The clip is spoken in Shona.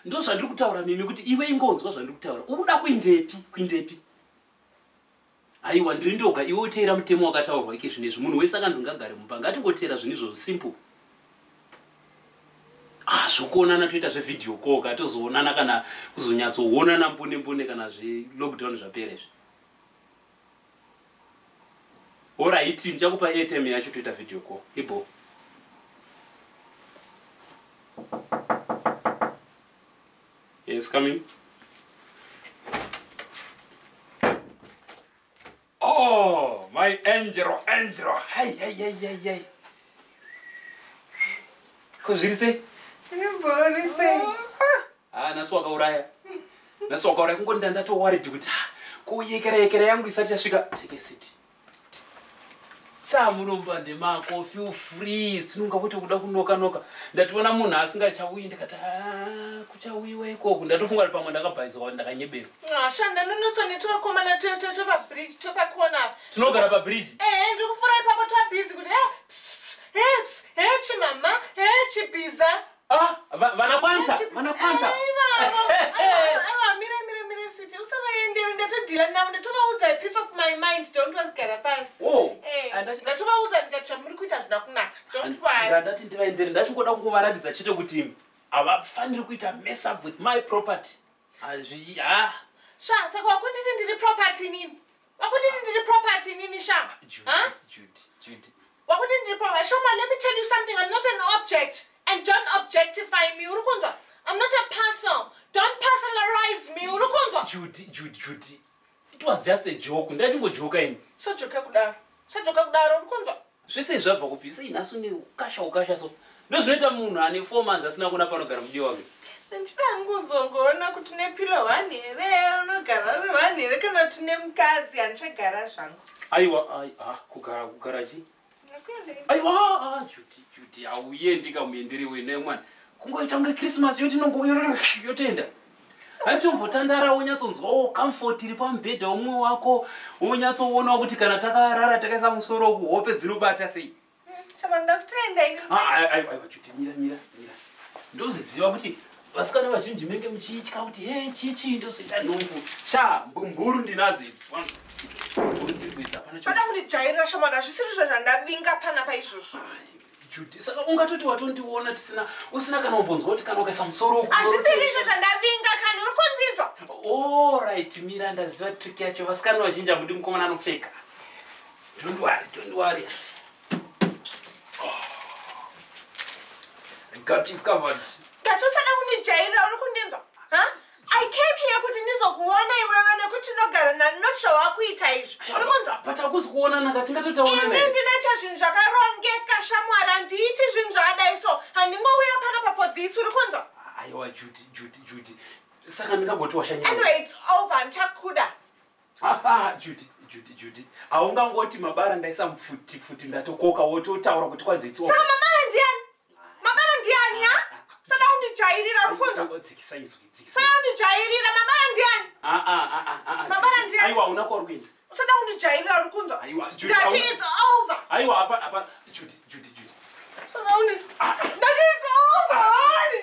ndozvandiri kutaura mimi kuti iwe ingonzwa zvandiri kutaura uri kuda kuindepi kuindepi aiwa ndiri ndoga iwe uteera mutemo wakataurwa ike zvino izvi munhu wese akanzi ngagare mumba ngatingoteera zvinhu izvozvo simple ah, zvokuonana toita zvevideo koka tozoonana kana kuzonyatsoonana mbune mbune kana zvelockdown zvapera izvi Alright, ndichakupa airtime yacho toita video call. Ibo. Yes, come in. Oh, my angel, angel. Hey, hey, hey, hey, hey. Ko zviri sei? Zviri sei? haa ah, nhasi wakauraya nhasi wakauraya kungonda ndatowaridhi kuti ah, kuyekera yekera yangu isati yasvika take a city chamunombande mako feel free sinunga kuti kuda kunoka noka ndationa munhu asingachauyi ndikati ah, kuchauyiwa ikoku ndatofunga kuti pamwe ndakabhaizwa ndakanyeberwa ah, shanda ndonotsa netovakomana tepabridge tepakona tinogara pabridge ehe eh, ndikufurai pako twabhizi kuti eh, eh, hechimama hechibhiza Ah, va- vanakwanisa vanakwanisa aiwa mire mire mire switi usavaendere ndatodhila navo ndatovaudza a piece of my mind don't vagara pasi Oh, Eh, and that- ndatovaudza ndikati zvamuri kuita hazvina kunaka don't worry ndandati ndivaendere ndachingoda kuvaratidza chete kuti havafaniri kuita mess up with my property hazvi ah sha saka wakunditi ndiri property nini Wakuti ndiri property nini sha? Huh? Judy, Judy. Wakuti ndiri property. Shoma, let me tell you something. I'm not an object. And don't objectify me. Uri kunzwa? I'm not a parcel. Don't personalize me. Uri kunzwa? Judy, Judy, Judy. It was just a joke. Ndachingojoka ini. Sajoka kudaro. Sajoka kudaro. Uri kunzwa? Zvese zvabva kupi sei nhasi une ukasha ukasha so. Ndozvinoita munhu ane 4 months asina kuona panogara mudiyo wake. Ndichida kuzongoona kuti une pillow one here unogara uri one here kana kuti une mukadzi handichagara zvangu. Aiwa ai ah kugara kugara chi? Aiwa ah Judy Judy auyendi kamuendere wena mwana. Kungoita kunge Christmas yoti nongoyotenda. handichombotandara wonyatsonzwawo comfort iri pamubhedha umwe wako wonyatsoonawo kuti kana takarara takaisa musoro kuhope dzinobata sei aiwachutimira mira mira ndozviziva kuti vasikana vazhinji menge muchiitya kuti he chichi ndozoita nhumbu sha mbumburu ndinadzo idzi mbumburu dziri kuidza panaoda kundijairira shomana hazvisiri zvo zvandavinga pana paizvozvo Judy, saka ungatoti watondiona tisina usina kana umbonzwa kuti kana ukaisa musoro uku. Hazvisiri izvo zvandavinga kana uri kunzinzwa. All right, mira ndaziva trick yacho vasikana vazhinji hamudi mukomana anopfeka. Don't worry, don't worry. Got you covered. Ndatusada kundijairira uri kundinzwa. Ha? I came here kuti ndizokuona iwewe nekuti unogara nani not sure wakuita izvo. Ndikunzwa. But akusi kuonana ka tingatotaona naye. Ini ndinoita zvinhu zvakarongeka shamwari handiiti zvinhu zvaadai so handingouya pana pa for this uri kunzwa. Aiwa Judy Judy Judy. Saka ndingagoti washanyira. Anyway it's over ndichakuda. Ah ah Judy. Judy Judy haungangoti mabara ndaisa mfuti futi ndatokoka wototaura kuti kwanzi it's over. Saka mama ndiani? mabara ndiani ya sada kundijairira rukunzwa sada kundijairira mabara ndiani mabara ndiani aiwa una kwauri kuenda usada kundijairira uri kunzwa dati its over aiwa apa apa judy judy judy usada kundi ah. dati its over honey